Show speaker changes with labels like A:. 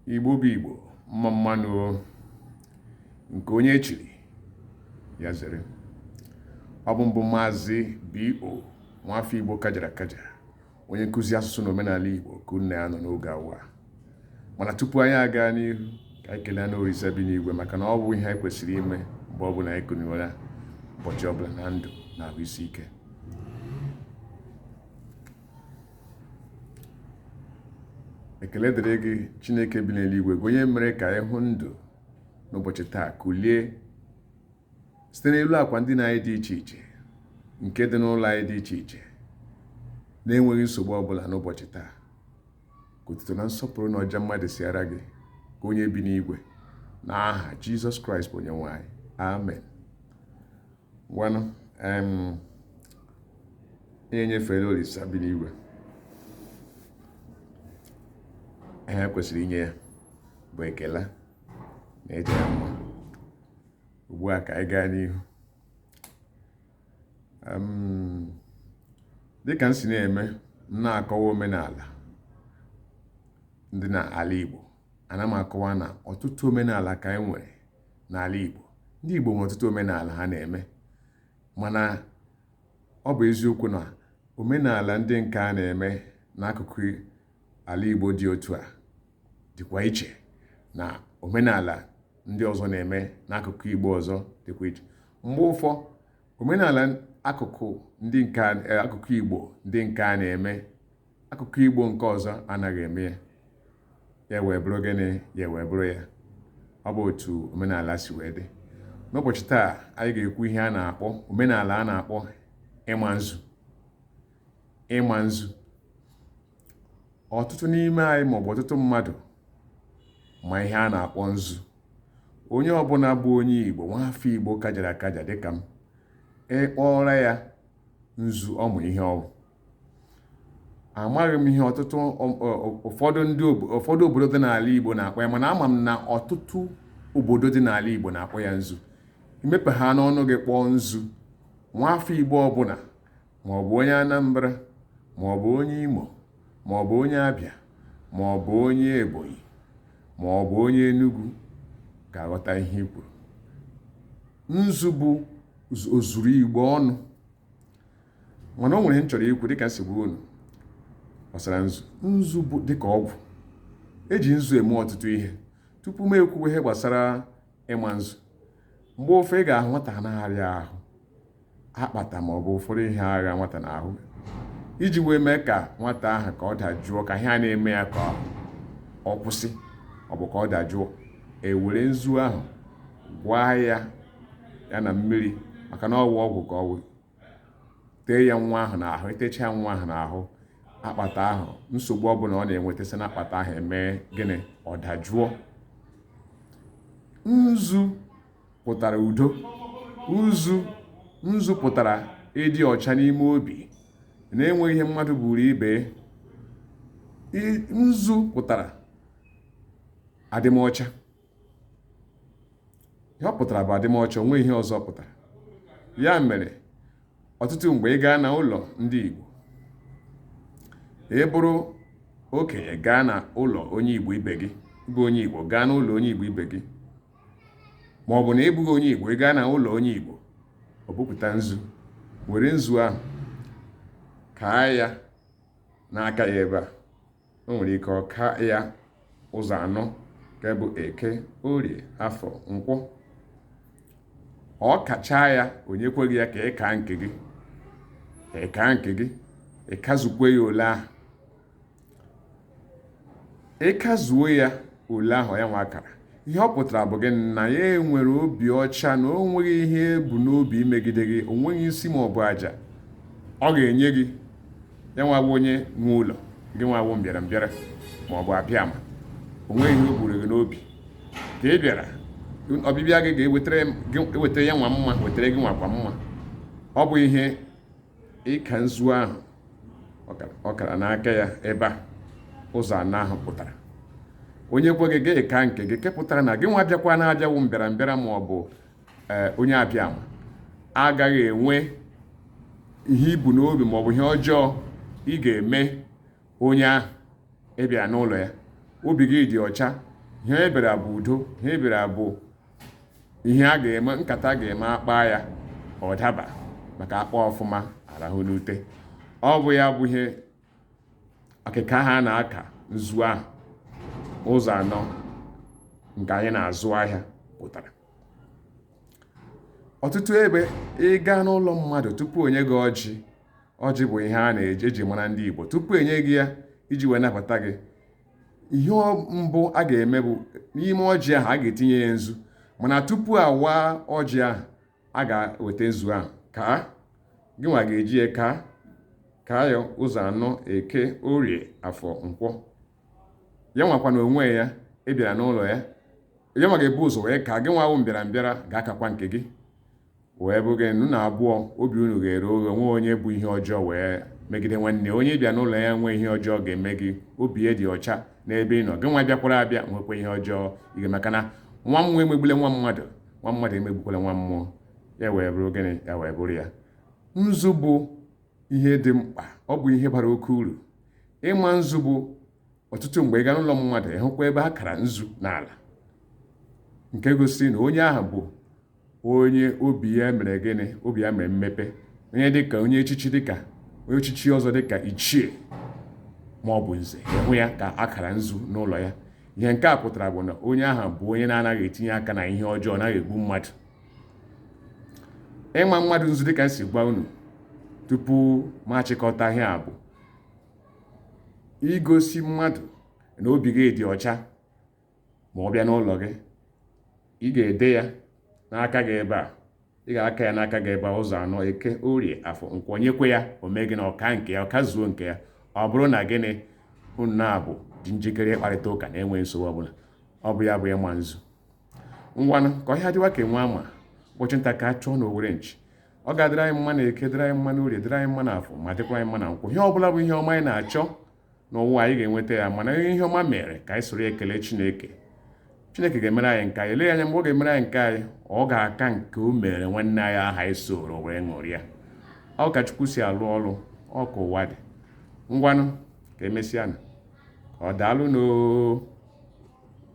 A: igbo bụ igbo mma mmanụ nke onye echiri ya zere ọ bụ mụ bụ maazị bo nwafọ igbo kajara akaja onye nkụzi asụsụ na omenala igbo ka unu na ya nọ n'oge awa mana tupu anyị agaa n'ihu ka anyị kelee nna orisa bi n'igwe maka na ọ bụ ihe anyị kwesịrị ime mgbe ọbụla anyị kuniere ụbọchị ọbụla na ndụ na ahụ isi ike ekele dịrị gị chineke bi n'eluigwe gị onye mere ka anyị hụ ndụ n'ụbọchị taa kulie site n'elu akwa ndina anyị dị iche iche nke dị n'ụlọ anyị dị iche iche na-enweghị nsogbu ọbụla n'ụbọchị taa ka otuto na nsọpụrụ na ọja mma dịsịara gị gị onye bi n'igwe na aha jizọs kraịst bụ onye nwe anyị amen ngwanụ anyị enyefeela olisa bi n'igwe ihe e kwesịrị inye ya bụ ekele na ịja ya mma ugbu a ka anyị gaa n'ihu dịka m si na-eme m na-akọwa omenala ndị na ala Igbo ana m akọwa na ọtụtụ omenala ka anyị nwere n'ala Igbo ndị Igbo nwere ọtụtụ omenala ha na-eme mana ọ bụ eziokwu na omenala ndị nke a na-eme n'akụkụ ala Igbo dị otu a dịkwa iche na omenala ndị ọzọ na-eme n'akụkụ Igbo ọzọ dịkwa iche mgbe ụfọ omenala akụkụ ndị nke eh, akụkụ Igbo ndị nke a na-eme akụkụ Igbo nke ọzọ anaghị eme ya ya wee bụrụ gịnị ya wee bụrụ ya ọ bụ otu omenala si wee dị n'ụbọchị taa anyị ga-ekwu ihe a na-akpọ omenala a na-akpọ ịma nzu ịma nzu ọtụtụ n'ime anyị maọbụ ọtụtụ mmadụ ma ihe a na-akpọ nzu onye ọbụla bụ onye Igbo nwa afọ Igbo kajara akaja dịka m ị kpọọra ya nzu ọ ma ihe ọ wụ amaghị m ihe ọtụtụ ụfọdụ ndị ụfọdụ obodo dị n'ala Igbo na-akpọ ya mana ama m na ọtụtụ obodo dị n'ala Igbo na-akpọ ya nzu i mepehanụ ọnụ gị kpọọ nzu nwa afọ Igbo ọbụla ma ọ bụ onye Anambra ma ọ bụ onye Imo ma ọ bụ onye Abịa ma ọ bụ onye Ebonyi ma ọ bụ onye Enugu ga-aghọta ihe i kwuru nzu bụ ozuru Igbo ọnụ mana o nwere ihe m chọrọ ikwu dịka m si gwara unu gbasara nzu nzu bụ dịka ọgwụ eji nzu eme ọtụtụ ihe tupu m ekwuwe ihe gbasara ịma nzu mgbe ụfọdụ ị ga-ahụ nwata na-arịa ahụ akpata ma ọ bụ ụfọdụ ihe agha nwata n'ahụ iji wee mee ka nwata ahụ ka ọ dajụọ ka ihe a na-eme ya ka ọ kwụsị ọ bụ ka ọ dajụọ ewere nzu ahụ gwaa ya ya na mmiri maka na ọ wụ ọgwụ ka ọ wụ tee ya nwa ahụ n'ahụ etecha ya nwa ahụ n'ahụ akpata ahụ nsogbu ọbụla ọ na-enweta si n'akpata ahụ emee gịnị ọ dajụọ nzu pụtara udo nzu pụtara ịdị ọcha n'ime obi na-enweghị ihe mmadụ buru ibe nzu pụtara adịmọcha ihe ọ pụtara bụ adịmọcha o nwe ihe ọzọ ọ pụtara ya mere ọtụtụ mgbe ị gaa na ụlọ ndị Igbo ị bụrụ okenye gaa na ụlọ onye Igbo ibe gị bụ onye Igbo gaa na ụlọ onye Igbo ibe gị ma ọ bụ na ị bụghị onye Igbo ị gaa na ụlọ onye Igbo o bupụta nzu were nzu ahụ kaa ya n'aka ya ebe a o nwere ike ọ kaa ya ụzọ anọ nke bụ eke orie afọ nkwọ ọ kachaa ya o nyekwa gị ya ka ị kaa nke gị ka ị kaa nke gị ị kazukwe ya ole ahụ ị kazuo ya ole ahụ ya nwa kara ihe ọ pụtara bụ gị na ya enwere obi ọcha na o nweghị ihe o bu n'obi imegide gị o nweghị nsi ma ọ bụ aja ọ ga-enye gị ya nwa wụ onye nwe ụlọ gị nwa wụ mbịara mbịara ma ọ bụ abịama o nweghị ihe o buru gị n'obi ka ị bịara ọbịbịa gị ga-ewetara ya nwa mma wetara gị nwakwa mma ọ bụ ihe ịka nzu ahụ ọ kara n'aka ya ebe a ụzọ anọ ahụ pụtara o nyekwa gị gị kaa nke gị nke pụtara na gị nwa bịakwara abịa wụ mbịara mbịara ma ọ bụ eh, onye abịama agaghị enwe ihe i bu n'obi ma ọ bụ ihe ọjọọ ị ga-eme onye ahụ ị bịa n'ụlọ ya obi gị dị ọcha ihe e bịara bụ udo ihe e bịara bụ ihe a ga-eme nkata a ga-eme akpaa ya ọ daba maka akpaa ọfụma arahụ n'ute ọ bụ ya bụ ihe akịka ahụ a na-aka nzu ahụ ụzọ anọ nke anyị na-azụ ahịa pụtara ọtụtụ ebe ị gaa n'ụlọ mmadụ tupu o nye gị ọjị ọjị bụ ihe a na-eji mara ndị Igbo tupu enye gị ya iji wee nabata gị ihe mbụ a ga-eme bụ n'ime ọjị ahụ a ga-etinye ya nzu mana tupu a waa ọjị ahụ a ga-eweta nzu ahụ kaa gị nwa ga-eji ya ka kaa ya ụzọ anọ eke orie afọ nkwọ ya nwakwa na onwe ya ị bịara n'ụlọ ya ya nwa ga-ebu ụzọ wee kaa gị nwa wụ mbịara mbịara ga-akakwa nke gị wee bụ gịnị unu na abụọ obi unu ghere oghe o nweghị onye bu ihe ọjọọ wee megide nwanne onye ị bịara n'ụlọ ya o nweghị ihe ọjọọ ọ ga-eme gị obi ya dị ọcha n'ebe ị nọ gị nwa bịakwara abịa o nweghịkwa ihe ọjọọ ị ga-eme maka na nwa mmụọ emegbule nwa mmadụ nwa mmadụ emegbukwala nwa mmụọ ya wee bụrụ gịnị ya wee bụrụ ya nzu bụ ihe dị mkpa ọ bụ ihe bara oke uru ịma nzu bụ ọtụtụ mgbe ị gaa n'ụlọ mmadụ ị hụkwa ebe a kara nzu n'ala nke gosiri na onye ahụ bụ onye obi ya mere gịnị obi ya mepere emepe onye dịka onye echichi dịka onye echichi ọzọ dịka ichie ma ọ bụ nze ị hụ ya ka a kara nzu n'ụlọ ya ihe nke a pụtara bụ na onye ahụ bụ onye na-anaghị etinye aka na ihe ọjọọ ọ naghị egbu mmadụ ịma mmadụ nzu dịka m si gwa unu tupu m achịkọta ihe a bụ igosi mmadụ na obi gị dị ọcha ma ọ bịa n'ụlọ gị ị ga-ede ya n'aka gị ebe a ị ga-aka ya n'aka gị ebe a ụzọ anọ eke orie afọ nkwọ nyekwa ya o mee gịnị ọ kaa nke ya ọ kazuo nke ya ọ bụrụ na gịnị unu na abụọ dị njikere ịkparịta ụka na-enweghị nsogbu ọbụla ọ bụ ya bụ ịma nzu ngwanụ ka ọhịa dịwa ka enwe ama ụbọchị nta ka a chụọ na owere nchi ọ ga-adịrị anyị mma na eke dịrị anyị mma na orie dịrị anyị mma na afọ ma dịkwa anyị mma na nkwọ ihe ọ bụla bụ ihe ọma anyị na-achọ n'ụwa anyị ga-enweta ya mana ihe ọma mere ka anyị soro ekele chineke chineke ga-emere anyị nke anyị eleghị anya mgbe ọ ga-emere anyị nke anyị ọ ga-aka nke o mere nwanne anyị ahụ anyị soro wee ṅụrịa ọ ka chukwu si alụ ọrụ ọ ka ụwa dị ngwanụ ka emesịanụ daalụnụ oo